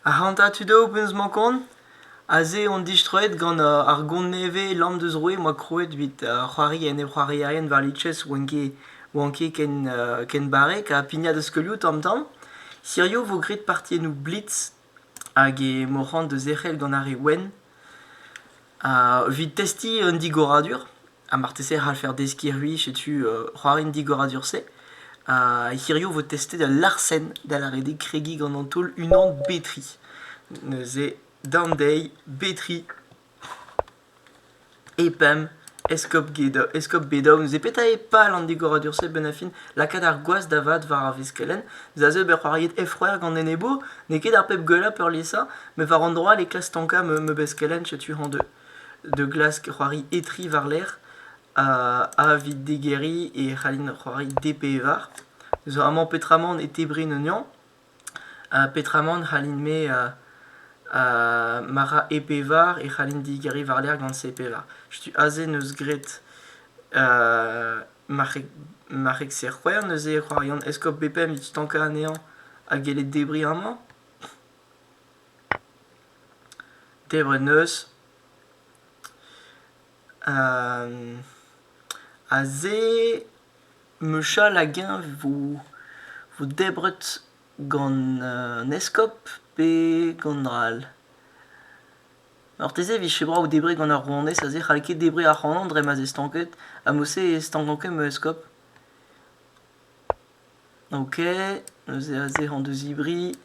Ac'hanta tud eo penaos emañ kont? Aze on distroet gant ar gont nevez lamm deus roue 'moa krouet evit c'hoari enep-c'hoarierien war Liches 'oant ket ken barrek ha pignat o skeulioù tamm-tamm. Hiziv 'vo graet partiennoù blitz hag e moc'h da zerc'hel gant ar re wenn, ha evit testiñ un digoradur, ha marteze e c'hallfer deskiñ c'hwi setu c'hoarienn digoradur-se, hiziv e vo testet ul larsenn da lâret kregiñ gant an taol unan betri, neuze down dezhi, betri. E pemp, eskob Gedo- eskob Bedow, neuze petra eo pal an digoradur-se bennañ-fin? Lakaat ar gwaz da vat war ar veskelenn, neuze ober c'hoariet Effroer gant enebour? N'eo ket ar pep gwellañ peurliesañ, met war an dro all e klask stankañ ma ma beskelenn, setu hañ de. De glask c'hoari Etri war-lerc'h, ha A evit digeriñ e c'hallin c'hoari D pevar. Zo amañ petra 'mañ e tebriñ un yañ. Petramant c'hallin-me ma ra e pevar e c'hallin digeriñ war-lerc'h gant se pevar. Setu aze 'neus graet marc'heg-serc'hwec'h neuze e c'hoarian. Eskob Bepem e stankañ anezhañ ha gellet debriñ amañ. Debret 'neus. Aze mechal hag-eñ vo debret gant an eskob pe gant dra all. Marteze e vije brav debriñ gant ar rouanez aze, c'hall ket debriñ ac'hanon dre ma'z eo stanket ha mod-se e stankan ket ma eskob. Ok, neuze aze hañ da zibriñ,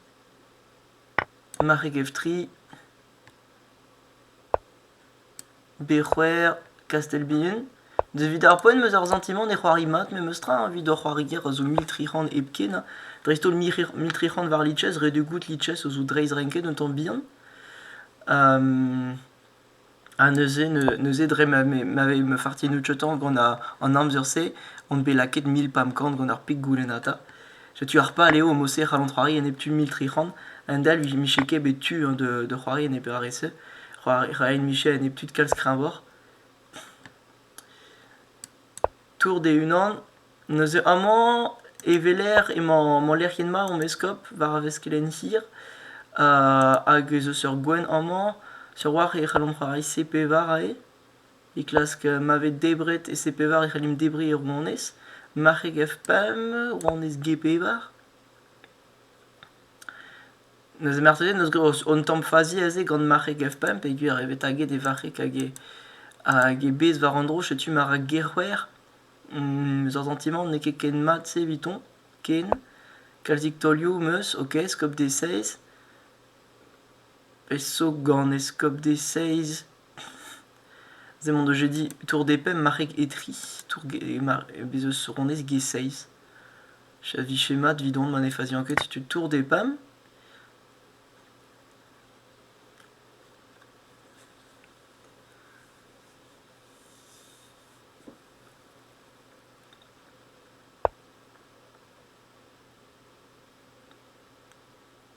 marc'heg evtri. Be c'houer Kastel-Bihan. Evit ar poent 'm eus ar santimant e c'hoari mat memestra evit hor c'hoarier a zo mil tri c'hant hepken ha dreist-holl mil tri c'hant war lices ret eo goût lices a zo dreistrenket un tamm bihan. Ha neuze neuze dre ma ma fartinoù tcheuton gant an amzer-se on bet lakaet mil pemp kant gant ar peg goulennata. Setu ar pal eo o serc'hal an c'hoari enep tu mil tri c'hant. A-hend-all miche ket bet tu hein, de, de c'hoari enep RSE. C'hoari- Ryan Miche enep tud kalz kreñvoc'h. Tour d'e-unan. Neuze amañ e weler emañ mañ lec'hienn mat hom eskob war ar veskelenn hir. hag ez eus ur gouent amañ. Sur 'walc'h e c'hellomp c'hoari C pevar aze. e klask ma vez debret ese-pevar e c'hellimp debriñ ur monez, marc'heg F-pemp, monez G-pevar. Neuze marteze n'eus un tamm fazi aze gant marc'heg F-pemp peogwir eo bet taget e varc'heg hag e hag e bez war an dro. Setu ma ra G-c'hwec'h. Eus ar santimant n'eo ket ken mat-se evitoñ, ken. Kalzik taolioù 'm eus, ok, Eskop des Seiz. Peso gant Eskop des Seiz? Se m'en deus dit tour des pemp marc'heg etri, tour ge- mar- bez' eus ronez ge-seiz. A vije mat evidon ma ne fazian ket setu tour des pemp.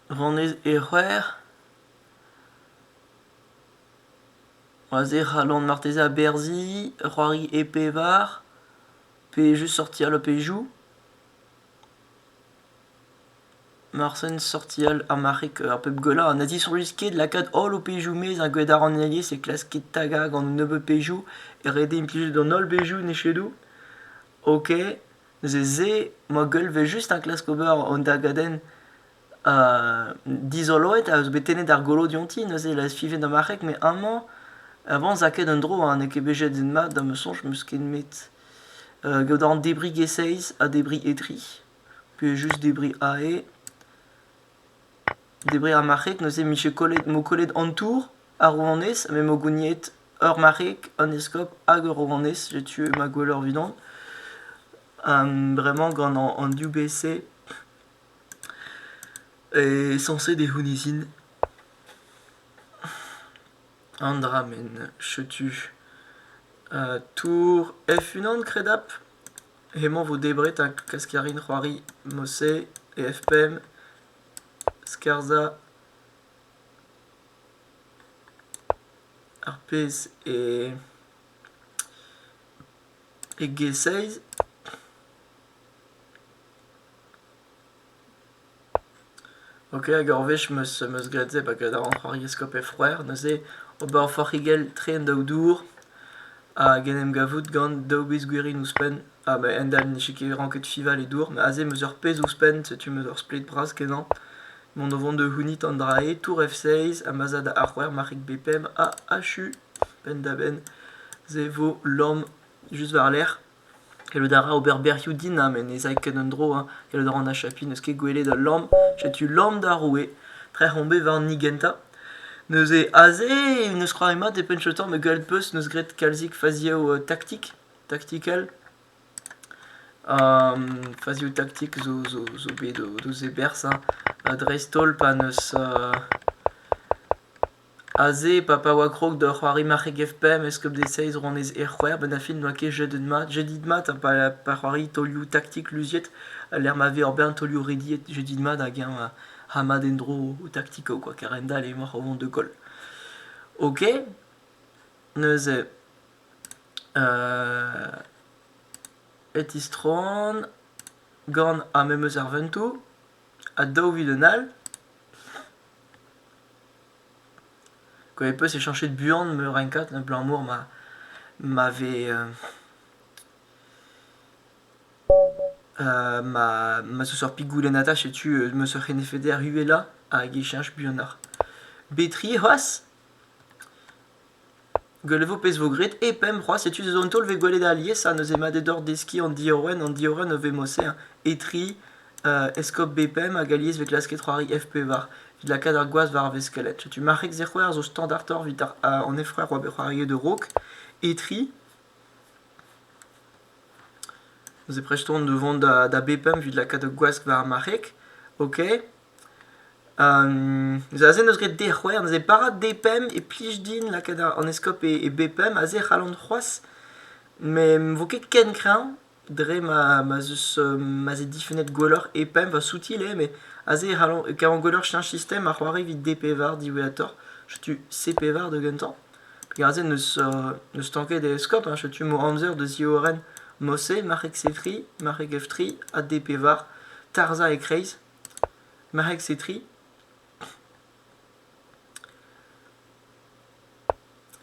Ronez e c'hwec'h. Aze e c'hallont marteze aberzhiñ, c'hoari e pevar, pe just sortir le pejou. Marsen sortial ar marc'heg ar pep gwellañ. Na zisoñjis ket lakaat holl ho pejou 'maez ar gwadaranelezh e klaskit tagañ gant un nebeud pejou e ret din implijout an holl bejou en echedoù. Ok, neuze se, ma goll 'vel just enklask ober an dagadenn dizoloet a eus bet tennet ar golo dionti neuze e suive da marc'heg met amañ avant 'za ket un dro ha n'eo ket bet jet din-mat da ma soñj 'm eus ket met gaout a ran debriñ e-seizh ha debriñ e-tri pe just debriñ ae debriñ ar marc'heg neuze 'm vije kollet m'mo kollet an tour ar rouanez met m'mo gouniet ur marc'heg un eskob hag ur rouanez j'ai tué ma gwelleur 'vidon bremañ gant an div bese Sañset eo honnezhin an dra met setu tour F-unan kredapl. Hemañ 'vo debret ha klask a rin c'hoari Mosse e F-pemp, Scherza, ar pezh e G-seiz. Ok, hag ur wech 'm eus 'm eus graet se, bakat a ran c'hoariaskop e c'hwec'h, neuze ober ur forc'higell tre en daou dour hag en em gavout gant daou biz gwirioù ouzhpenn. Ha ba hend-all ne ket ranket fival e dour, met aze 'm eus ur pezh ouzhpenn, setu 'm eus ur splet bras kenañ. Mont o vont da c'hounit an dra-se, tour F6, ha ma'z a da A-c'hwec'h, marc'hig B5, ha achu, penn-da-benn, se 'vo lamm just war-lerc'h. Gallout a ra ober bec'hioù dinamm e ne zay ket un dro. Gallout a ran achapiñ n'eus ket gwelet ul lamm. Setu lamm da roue. Trec'h on bet war an hini gentañ. Neuze aze n'eus c'hoari mat e penn tamm me gallout peus n'eus graet kalzik fazioù taktik, taktikel. fazioù taktik zo zo zo bet d'o zeberzhañ dreist-holl pa n'eus Aze, pa pa oa krog da c'hoari marc'heg FPM, eskob De Seiz, rouanez Aerc'hwec'h, benn ar fin n'oa ket jedet mat, jedit mat ha pa pa c'hoari taolioù taktik luziet, a-lec'h ma vez ur bern taolioù rediet, jedit mat hag eñ a a mad en-dro o taktiko kwa, keren-dall emaoc'h o vont da goll. Ok, neuze e tistroan gant ha memes ar ventoù ha daou vilin all. Quand mes potes c'est chercher buan me rencat abalamour ma ma vez ma ma zo seurt pik goulenn ata setu ma seurt c'henefeder uhelañ hag e cheñch buanoc'h. Betri c'hoazh? Gwell e vo pezh 'vo graet hep emp c'hoazh setu sezoñ taol 'vez gwelet alies ha neuze mat eo deoc'h deskiñ an diorren an diorren o vemo-se hein etri eskob bpm hag alies 'vez klasket c'hoari FP var evit lakaat ar gwaz war ar veskeled setu marc'heg Zec'houer zo standartoc'h 'vit an efrer oa bet c'hoariet a-raok etri neuze prest on da vont da bpm evit lakaat ur gwask war ar marc'heg ok Aze n'eus ket dec'hwer, neuze bara D-pemp e plij din lakaat an eskob e B-pemp, aze e c'hallan c'hoazh, met ne vo ket ken kreñv dre ma ma'z eus ma'z eo difennet gwelloc'h E-pemp, va soutil eo, met aze e c'hallan kavan gwelloc'h cheñch sistem ha c'hoari evit D-pevar diwezhatoc'h, setu C-pevar da gentañ. Perak aze n'eus stanket e eskob ha setu emañ amzer da ziorren Mossé, marc'heg Sefri, marc'heg Eftri ha D-pevar, tarzhañ e-kreiz. Marc'heg Setri,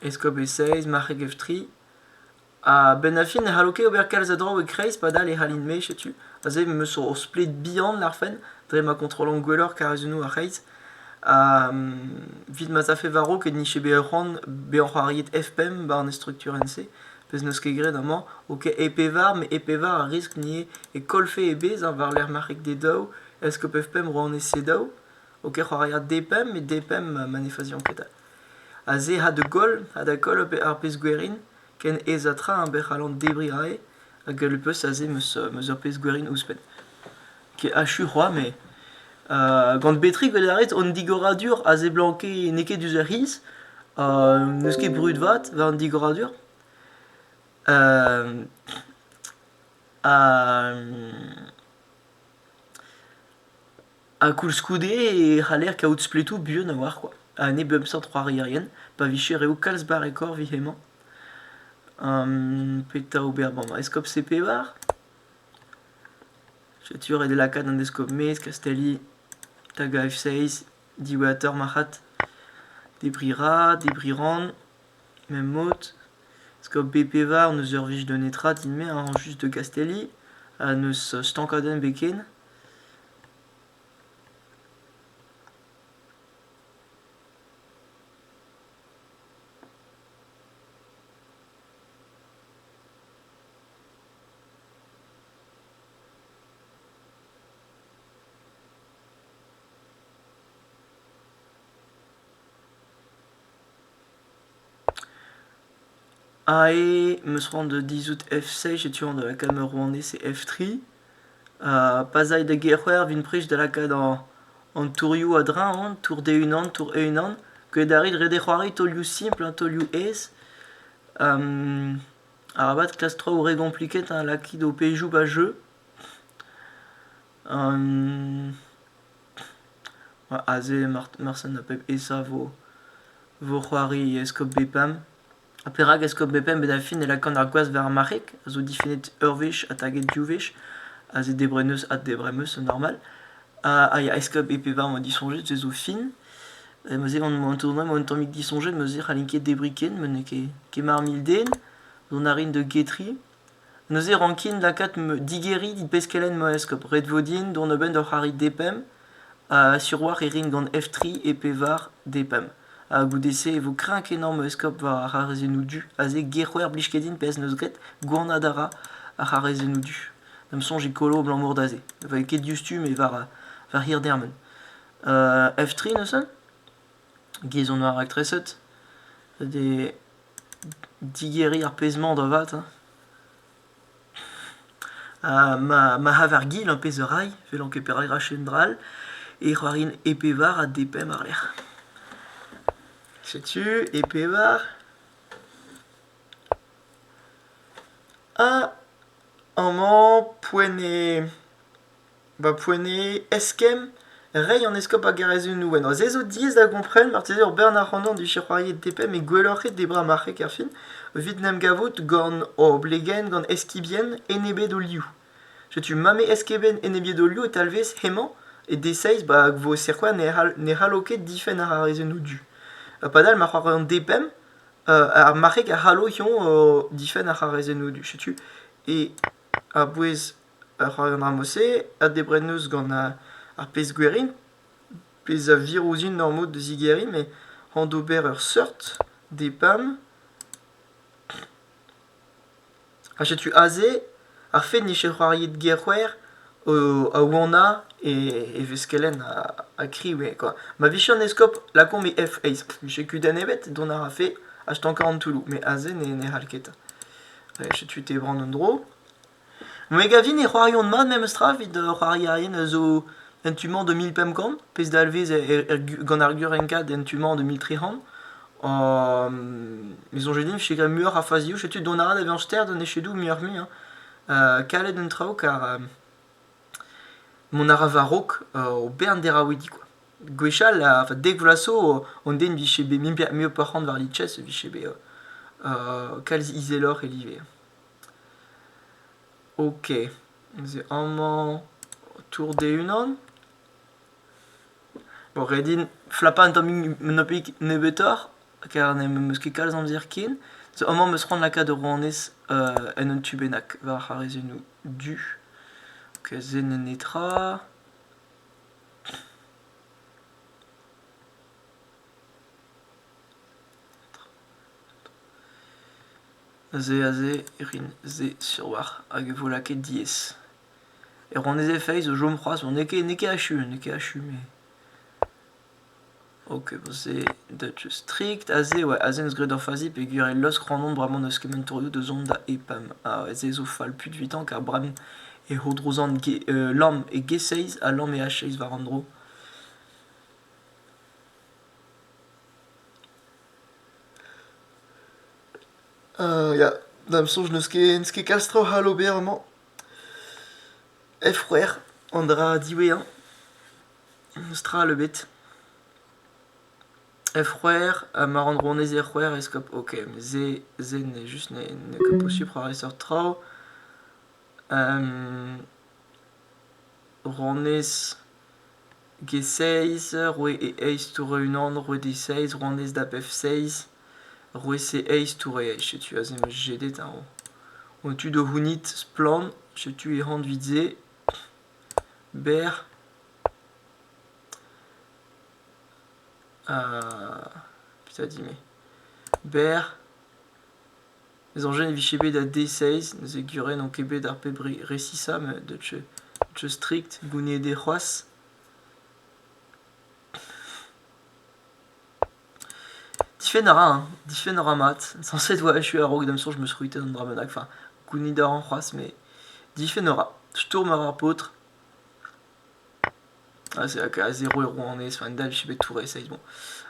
eskob e Seiz, marc'heg ev tri. Ha benn ar fin ne c'hallo ket ober kalz a draoù e-kreiz padal e c'hallin-me setu. Aze em eus ur splet bihan larfen dre ma kontrollan gwelloc'h karrezennoù ar c'hreiz. Ha evit ma'z afe war-raok e nije bet ur c'hoant bezañ c'hoariet F5 'ba an estrukturenn-se. Pezh n'eus ket graet amañ, ok e pevar, met e pevar a riskl n'eo e kollfe e bezh war-lerc'h marc'heg D daou, est-ce que pev pemp ro anez C daou? Ok c'hoaria D pemp, met D pemp ma ne fazian ket a. Ha se ha da goll, ha da koll ar pezh gwerin, ken aes ha tra eñ bec'h a-lamp debriñ aze, hag le peus aze 'meus ur pezh gwerin ouzhpenn. Ket achu c'hoazh met gant Betrig welet a rit hon digoradur a seblanke n'eo ket diouzh ar c'hiz. n'eus ket brud vat war an digoradur. ha koulskoude e c'haller kaout spletoù buan a-walc'h kwa. Ha ne bemp seurt c'hoarierien pa vije reoù kalz barrekoc'h 'vije emañ. petra ober 'mañ? Eskob Sepevar? Setu ret eo lakaat an deskob maez Kastelli da gaf-seiz diwezhatoc'h marc'had. Debriñ ra, debriñ ran, ma'm mod. Deskob B-Pevar n'eus ur wech da netra din-me hañ just da Gastelli ha n'eus stankadenn-ebet ken. Ae, 'meus c'hoant da dizhout FC, setu an da lakaat ma rouanez e F3. Ha pa 'z ay da Gerc'hwer 'vin prest da lakaat an tourioù a-dreñv on, tour D1, tour E1, gwelet a rit ret eo c'hoari taolioù simpl, taolioù aes. Arabat kas traoù re gompliked ha lakit ho pezhioù 'ba jeu. Aze marsen a pep esa 'vo c'hoari eskob Bepam. Ha perak eskob Bepam? Bet ar fin e lakan ar gwaz war ar marc'heg, a zo difennet ur wech ha taget div wech. Aze debreneus ha debremeus, normal. Ha ya, eskob Epeva 'mañ disoñjet, se zo fin. Eh ma se gant ma tournois ma un tammig disoñjet ma se c'hallin ket debriñ ken ma n'eo ket ket mar mil den. Dont a rin da getriñ. Neuze rankin lakaat ma digeriñ dit peskellen ma eskob. Ret vo din dont a-benn d'ur c'harrig D-pemp ha siwazh e rin gant F tri e pevar D-pemp. Ha goude-se e vo kreñv kenañ ma eskob war ar c'harrezennoù du. Aze ger-c'hwec'h 'blij ket din pezh 'neus graet. Gwanad a ra ar c'harrezennoù du. Da'm soñj e kolo abalamour da se. Ne vo ket diouzhtu met war war hir dermen. F3 neuze, giz on war raktreset, d'he digeriñ ar pezh-mañ da vat hein. ma ma c'haver-gil ur pezh a ray, evel ket perak rache un dra all, e c'hoarin E pevar ha D pemp àr-lerc'h. Setu E pevar ha amañ poent eo Ba poent eskemm, reiñ an eskob hag ar rezunioù en-dro. Se zo diaes da gompren, marteze ur bern ac'hanomp dije c'hoariet DP met gwelloc'h eo debra marc'heg erfin, evit 'n em gavout gant oblegenn, gant eskibien enebet o liv. Setu mame eskibien enebiet o liv e talvez hemañ, e D6, ba hag 'vo Serquoia ne c'hall ne c'hallo ket difenn àr ar rezunioù du. Padal ma c'hoari an D5, ar marc'heg a c'hallo hiziv difenn àr ar rezunioù du. Setu, e a-bouez Rak an anv-se a debrenus gant ar pezh gwir int, pezh a vir ouzhin normoù da zigeriñ met an d'ober ur seurt DPAM ha setu aze ar fed ne c'hell c'hoariet gerc'hwer a wanañ e veskelenn ha kriv eo kwa. Ma vije an eskob lakaomp e F eizh, vije kudenn ebet, dont a rafe achetankañ an toulloù, met aze ne c'hall ket. Setu e tebran un dro. Me a gavin e c'hoarion mat memestra evit ur c'hoarierien a zo en tu-mañ de mil pemp kant, pezh dalvez gant ar Gurrenkad en tu-mañ de mil tri c'hant. Me soñj din e vije graet muioc'h a fazioù, setu dont a ra da vezañ ster d'an echedoù muioc'h-mui hein. Kalet an traoù kar mont a ra war-raok o bern deraouidi kwa. Gwechall, a dek vloaz zo, an den vije bet mui perc'hant war Litches, vije bet kalz izeloc'h e live. Ok, ez eo amañ Tour d'e-unan. Bon, ret din flapañ un tammig un tammig nebeutoc'h kar n'em eus ket kalz amzer ken. So amañ 'm eus c'hoant lakaat rouanez en un tu bennak war ar rezummoù du. Ok, zen netra. Aze, aze e rin se siwazh hag e vo lakaet diaes. E ronez e feiz o chom c'hoazh, n'eo ket n'eo ket achu, n'eo ket achu met... Ok, bon se dat eus strikt. Aze oa aze 'neus graet ur fazi peogwir e losk c'hanomp bremañ n'eus ket men torioù da zont da EPAM. Ha se zo fall puit 'vitañ ker bremañ e c'hourdrozan lamm e G6 ha lamm e H6 war an dro. Ya, da'm soñj n'eus ket n'eus ket kalz traoù c'hall ober amañ. F-c'hwec'h, an dra diwezhañ. N'eus tra all ebet. F-c'hwec'h ha ma ran rouanez R-c'hwec'h e skop ok, se se n'eo just n'eo ket posupl c'hoarvezh seurt traoù. Rouanez G-Seizh, roue e eizh toure unan, roue D-Seizh, rouanez da F-Seizh, roue C-Eizh toure eizh. Setu aze emañ jedet eñ o. O tu da c'hounit splann, setu e c'hant evit se. Berr. Ha petra dit-me? Berr. Soñjet e vije bet da D-seiz, neuze gure n'on ket bet ar pep re resisañ met deu strikt gounid eo c'hoazh. Difenn a ra, hein. Difenn a ra mat. Sañset 'oa echu a-raok da 'm soñj 'm eus c'hwitaet an dra bennak. Enfin, gounid a ran c'hoazh mais difenn a ra. Stourm a ra ar paotr. Ha se a zero e rouanez. Enfin, dal 'vije bet tout reseiz. Bon,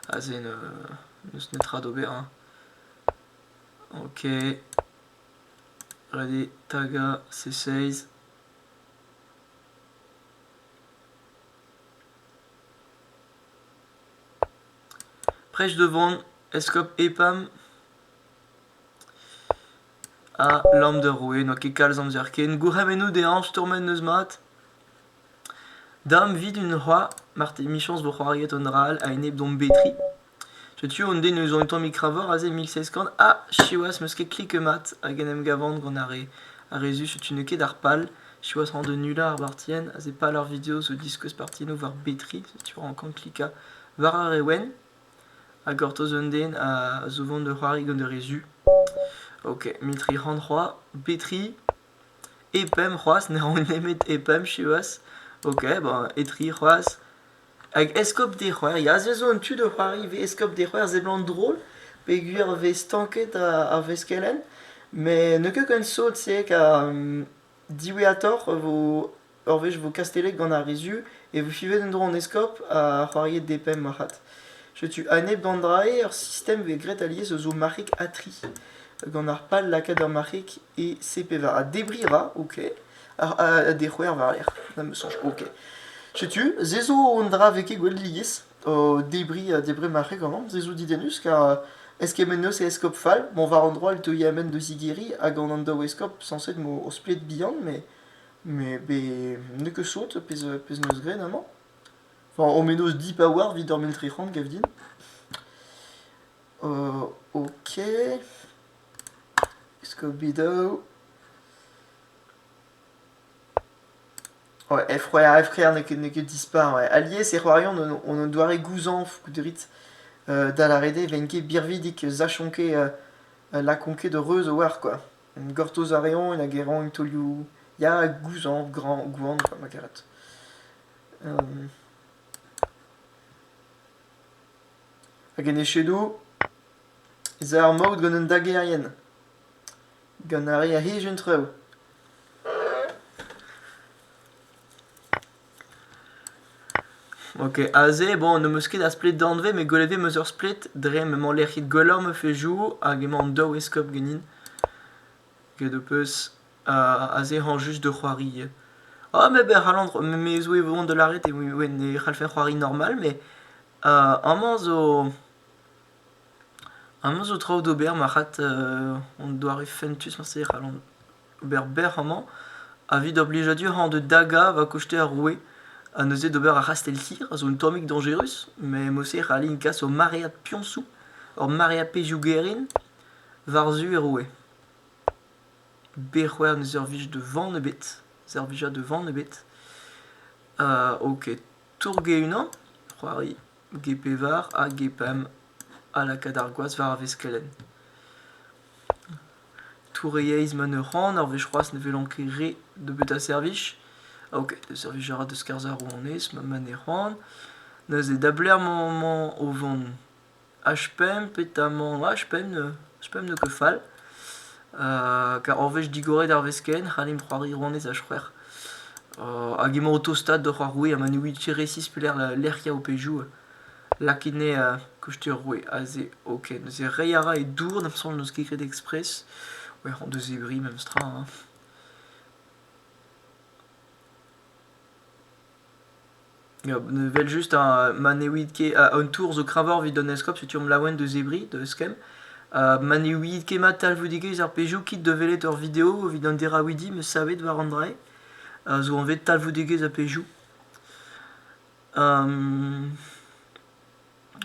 aze n'eus netra d'ober, hein. Ok, allez tagañ C16. Prêche devant Eskob EPAM ha Lamm da roue, n'oa ket kalz amzer ken. Gourc'hemennoù dezhañ stourmet n'eus mat. Dam 'vid un c'hoar, marteze 'michañs vo c'hoariet un dra all a-enep d'hom betri. Setu un den eus an tammig kravoc'h aze mil seizh kant ha siwazh 'm eus ket kliket mat hag en em gavan gant ar re ar re zu setu n'eo ket ar pal siwazh rañ da nullañ ar bartienn aze pal ar video zo diskouez partiennoù war betri setu e rankan klikañ war ar re wenn ha gortoz un den a zo vont da c'hoari gant ar re zu ok mil tri c'hant c'hoazh betri E pemp c'hoazh ne ran nemet e pemp siwazh. Ok, bon, e tri c'hoazh. Hag eskob d'e c'hoar, ya se zo un tu da c'hoari ivez eskob d'e c'hoar seblant drol peogwir 'vez stanket a- ar veskelenn. Met n'eo ket ken sot se ket ha diwezhatoc'h e vo Ur wech vo kastellet gant ar re zu e vo fivet en-dro an eskob ha c'hoariet des pemps marc'had. Setu a-nep d'an dra-se ur sistem bet graet alies eus ho marc'hig ha tri. Gant ar pal lakaat ur marc'hig e CP20. Ha debriñ a ra, ok. Ha, ha, ha dec'houer war-lerc'h, na me soñj, ok. Setu, se zo un dra vez ket gwelet lies, o debriñ ha debriñ marc'heg amañ, se zo didennus car euh, eskemmenn eus e eskob fall, bon war un droa e teuy amen da zigeriñ hag an an daou eskob sañset vo splet bihan, met Mais be... n'eo ket sot, pezh pezh 'neus graet amañ. Enfin, o menoz dipaouar 'vit ur mil-tri-c'hant, gav din. Euh, ok. Scooby-Doo. Ouais, F-Roya F-Frère n'est que, n'est que dispar, ouais. Alies e c'hoarion on, on un doare gouzañv gouderit euh, da la rede venke birvidik sachonke euh, euh, la konke de reuz o war, quoi. En gortoz a reont hag e roint taolioù ya gouzañv graoñ gwan quoi ma karet. Hag en echedo ez a ar maout gant an dagerien, gant ar re a hej an traoù. Ok, aze, bon, n'em eus ket a splet danvez, met gwelet eo 'm eus ur splet dre m'emañ lec'hid gwellañ ma fezhioù hag emañ an daou eskob ganin. Get ho peus aze hañv just da c'hoari. Ah, met e c'hallan c'ho- me zo e vo aon da lâret e we- ne c'hallfen c'hoari normal, met amañ zo amañ zo traoù d'ober marc'had an doare fentus, marse e c'hallan. ober bec'h amañ evit ar blijadur hañ da dagañ va koste ar roue ha neuze d'ober ar c'hastell-tir a zo un tammig dañjerus met moser a allin kas ur maread piañsoù ur maread pezhioù gaerin war-zu e roue bec'hoer ne servij da van ebet servija da van ebet ok tourge-unan c'hoari ge-pevar ha ge-pemp a laka d'ar gwaz war ar vez kelenn Touriaezh ma ne ran ar wech c'hoazh ne welan ket re nebeut a servij. Ah ok, servij a ra da skarzhañ ar rouanez ma ma ne ran. Neuze da belec'h emañ o vont? H5 petamant H5 ne H5 n'eo ket fall. Kar ur wech digoret ar wezh ken c'hallimp c'hoari rouanez H5. hag emañ o tostaat doc'h ar roue ha ma ne ouiit ket resis pelec'h lec'h ya ho pezhioù. Lakit 'nez koust ur roue aze ok. Neuze reiñ a ra e dour da'm soñj n'eus ket graet ekspres. C'hwec'h hon deus ebri memestra hein. Ya, evel-just hein, ma ne ouiit ket... an tour zo kreñvoc'h evit an eskob setu omp laouen deus ebri, da eskemm. ma ne ouiit ket mat talvoudegezh ar pezhioù kit da welet ur video evit an deraouidi 'meus savet war an drae, zo anvet talvoudegezh ha pezhioù.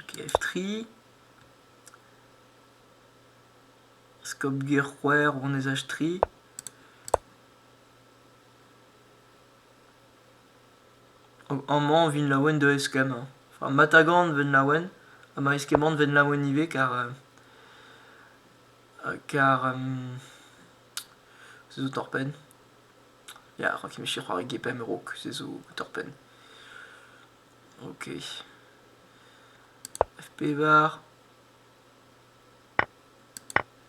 Kev-tri, skopger-c'hwec'h, ronezaj-tri. Amañ 'vin laouen da eskemmañ. Enfin matagan 'ven laouen ha ma eskemmont 'ven laouen ivez kar kar se zo torr-penn. Ya, c'hoant ket meche c'hoari GPM raok, se zo torr-penn. Ok. FP bar.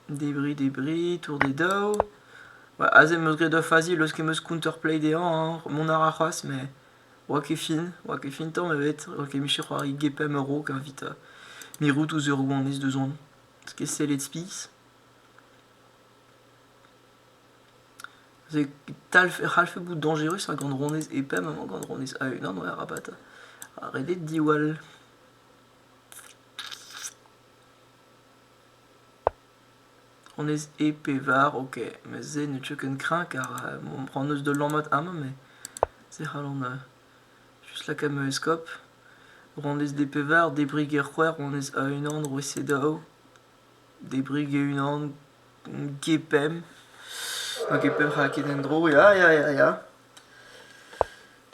Débris, débris, tour des daou. Bah, aze em eus graet ur fazi eus kem eus counterplay dezhañ, hein. Mon a ra c'hoazh, mais oa ket fin, oa ket fin tamm ebet. Oa ket meche c'hoari GPM raok evit euh, mirout ouzh ur gouanez deus on. Parce que sellet spis. e c'hallfe bout dañjerus ha gant ronez epem emañ gant ronez a-unan ouais arabat redet diwall ronez e pe var ok met se ne teu ken kreñv kar ran eus da lammat amañ met se c'hallan just lakaat ma eskob ronez de pe var debriñ ger c'hwec'h ronez a-unan roue sedaou Debriñ e-unan gepemp, n'oa ket pemp c'hra ket en-dro ya ya ya ya.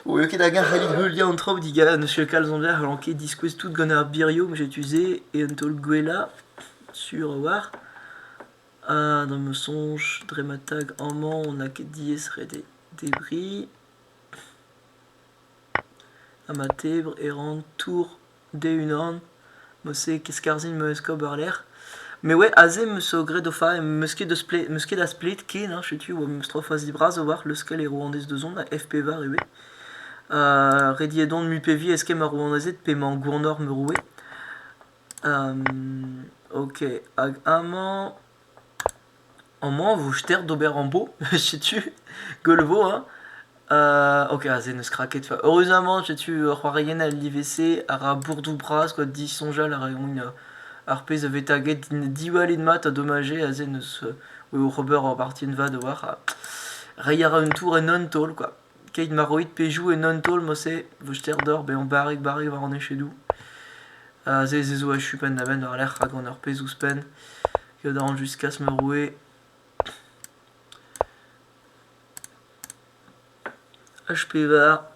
Eo ket hag-eñ c'hallit heuliañ an traoù digal, n'eus ket kalz amzer 'c'hallan ket diskouez tout gant ar birioù m'eus tu-se e un taol gwellañ sur a-walc'h. Ha da'm soñj dre ma tag amañ n'a ket diaes ret eo debriñ. Ha ma tebr e ran tour d'e-unan. Meuse ket skarzhin meus ober lec'h. Mais ouais, aze meus zo graet o fa, meus ket, deus pled, meus ket asplet ken, hein, setu, oa meus tro fazi bras a-walc'h leuskel e rouanez deus on, a FP var ivez. Uh, rediet on mui pe vi eskemm ar rouanezed p'emañ gournor ma roue. Um, ok, hag amañ... Amañ e vo ster d'ober ambo, setu, gwell vo, hein. Euh, ok, ah, se n'eus kra ket. Fa, heureusement, setu ur c'hoarienn al livez a ra bourdou bras, quoi, disoñjal a raomp, euh, ar pezh a vez taget, diwallit mat ha domajez, ha se n'eus, euh, eo ober ur bartienn vat a-walc'h, ha reiñ a ra un tour en un taol, quoi. Keit ma roit pejou en un taol, mosse, vo ster deoc'h bezañ barrik-barrik war an echedoù. Ha se, se zo achu penn-da-benn war-lerc'h, rak on ur pezh ouzhpenn. Kadarn juskas ma roe H-pevar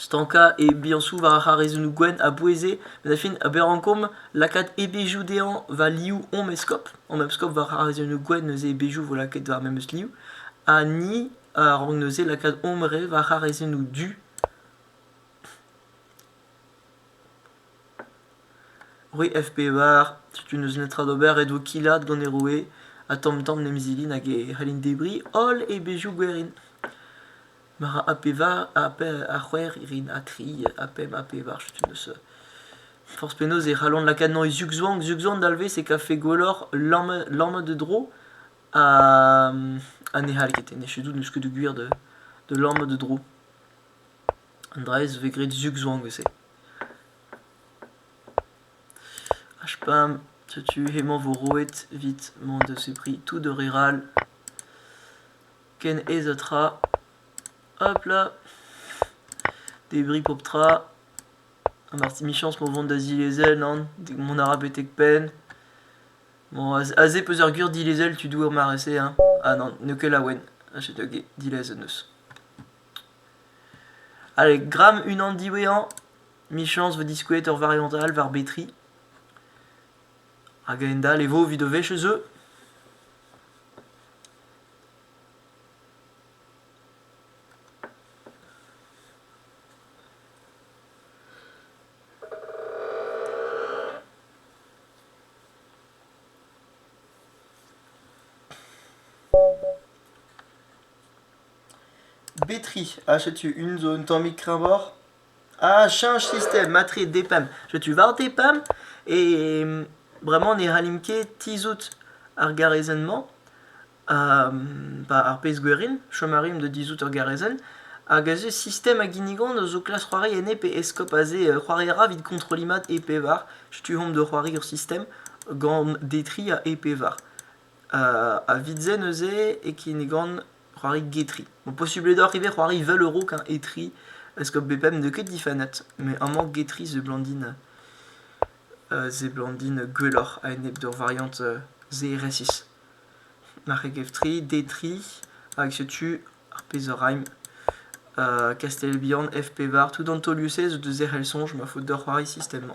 stankañ e biañsoù war ar c'harezennoù gwenn a boueze met a fin ober rankomp lakaat e-bezhioù dezhañ va liv hom eskob hom eskob war c'harezennoù gwenn neuze e-bezhioù vo lakaet war memes liv ha ni a rank neuze lakaat hom re war c'harezennoù du roue FPR setu n'eus netra d'ober e-dvo killat gant e roue ha tamm-tamm 'n em zilin hag e c'hellin debriñ holl e bezhioù gwerin ma ra A pevar ha a c'hwec'h rin ha tri ha pemp ha pevar setu n'eus forzh penaos e c'hallont lakaat e zugzwang zugzwang dalvez e kavfe gwelloc'h lammat e dro ha ha ne c'hall ket en echu tout n'eus ket gwir da lammat e dro An draezh 'vez graet zug zo anvet-se. HPAM, setu hemañ 'vo roet 'vit m'en deus e pri tout ur ger all. Ken aes ha tra. Hop là! Debriñ pep tra. Ha marteze emichañs m'o vont da zilezel nann? Mont a ra betek penn. Bon aze peus ar gwir dilezel tu doer mare-se hein? Ha nann n'eo ket laouen. Ha setu hag-e dilezet 'neus. Allez, gramm unan diwezhañ, michañs 'vo diskouezet ur variant all war betri. Hag a-hend-all e vo evit o wech ez eu. Betri ha setu un zo un tammig kreñvoc'h. Ha cheñch sistem matre DPEM. Setu war DPEM e bremañ ne c'hallimp ket tizhout ar garezenn-mañ, ar pezh gwerin. Chom a rimp da dizhout ur garezenn. Hag aze sistem a ginnigan a zo klask c'hoari enne pe eskob aze c'hoari a ra evit kontrolliñ mat e pevar. Setu omp da c'hoari ur sistem gant Detri ha e pevar. a vit-se neuze e kinnigan c'hoari getri. Bon, posubl eo deoc'h ivez c'hoari 20 euro qu'un etri, parce que BPM n'eo que 10 fanettes, mais amañ getri se blandine euh, se blandine gwelloc'h a enep d'ur variante euh, ZRS6. Marc'heg Eftri, Detri, hag setu ar pezh a raimp. Euh, Castelbihan, FP Var, tout Antoliusez, de Zerc'hel Songe, ma faute de c'hoari système.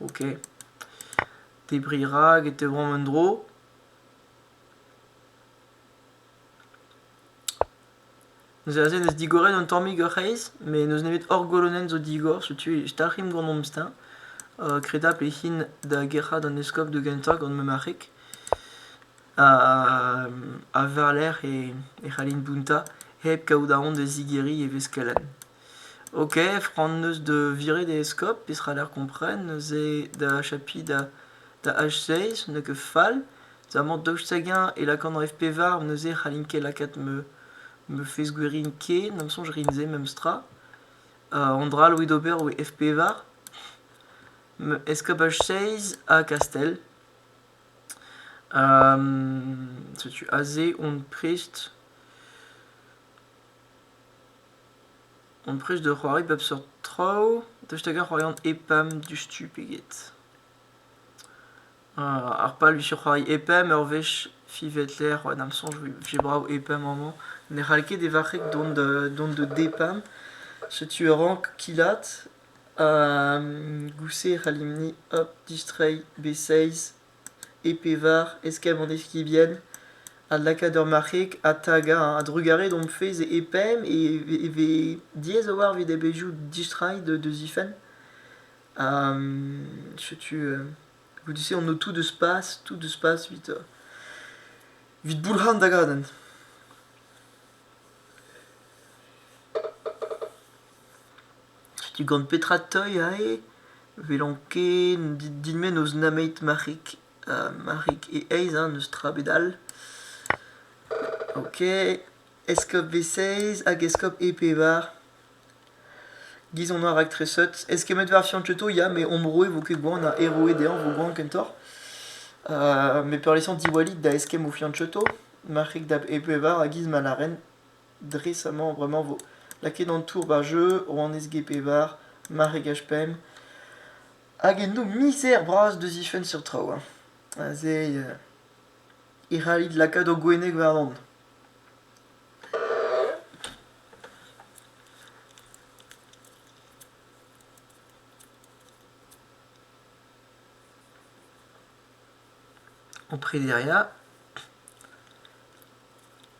Ok. Debriñ rak e tebromp en-dro. Neuze aze n'eus digorenn un tammig ur c'hreiz, met n'eus nemet hor golonenn zo digor, setu e dalc'himp gant hom steuñv. Uh, kredapl e hin da gerc'hat an eskob da gentañ gant ma marc'heg. Ha, ha war-lerc'h e, e c'hallin bountañ hep kaout aon da zigeriñ e vez kelenn. Ok, framm neus da viret e eskob, peseurt lec'h kompren, neuze da chapiñ da da H6, n'eo ket fall. Amañ daoust hag-eñ e lakaan ref pevar, neuze e c'hallin ket lakaat ma ma fezh-gwerin ken, d'am soñj rin se memestra. an dra all a ouie d'ober oe F pevar, ma eskob H6 ha Kastell. setu aze on prest. Amprest da c'hoari bep seurt traoù, daoust hag-ar c'hoarian EPAM diouzhtu pe get? Ar pal 'vije c'hoari EPAM ur wech fiñvet lec'h war da'm soñj 'vije brav EPAM amañ. Ne c'hall ket e varc'heg dont da dont da DEPAM. Setu e rank kilaat ha gousset e c'hallimp-ni hop distreiñ B6 E pevar eskem an eskibien a lakaat ur marc'heg ha tagañ a-drugarez d'hom fezh e pemp e vez diaes a-walc'h evit ar bezhioù distreiñ d'o zifenn. setu goude-se on o tout deus pas tout deus pas evit evit boulc'han da gadenn. Setu gant petra 'teuy aze. 'welont ket din-me n'eus nemet marc'hig ha marc'hig e aez hein, n'eus tra 'bed all. Ok, eskob Vesez hag eskob E-Pevar. Giz on ar raktreseut. Eskemmet war Fiancheto ya, met Ombro e vo ket gwan ha Heroe dezhañ 'vo gwan kentoc'h. met peurliesañ Diwallit da eskemm o Fiancheto, marc'hig da E-Pevar ha giz ma lâren. dres amañ bremañ 'vo lakaet an tour war jeu rouanez Gepevar maregaj pemp hag eno mizer bras da zifenn seurt traoù hein aze euh, e c'hallit lakaat ho gwenneg warnon en préderia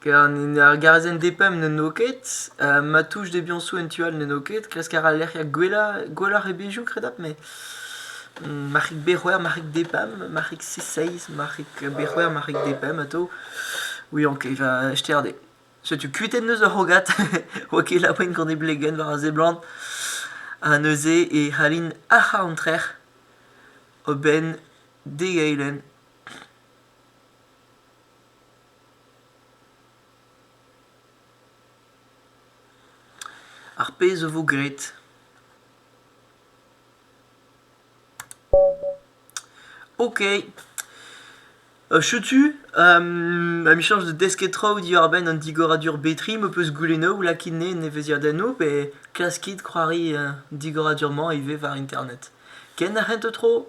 Ker an hini ar garazenn D-pemp n'eno ket, ma touch debiañsoù en tu all n'eno ket, kresk a ra lec'hiañ gwelloc'h gwelloc'h e bezhioù kredapl met marc'hig B-c'hwec'h, marc'hig D-pemp, marc'hig C-seizh, marc'hig B-c'hwec'h, marc'hig D-pemp atav, ouiañ ket, va sterder. Setu kuitenn eus ar c'hrogad, 'oa ket labourint gant e blegenn war a seblant. Ha neuze e c'hallint ac'hañ an trec'h a-benn d'e eilenn. Ar pezh a vo graet. Ok. Euh, chetu, um, amichañs da desket traoù diwar-benn an digoradur betri m'ho peus goulennoù ou lakit-ne en neveziadennoù pe klaskit c'hoari uh, digoradur-mañ ivez war internet. Ken ar c'hent tro?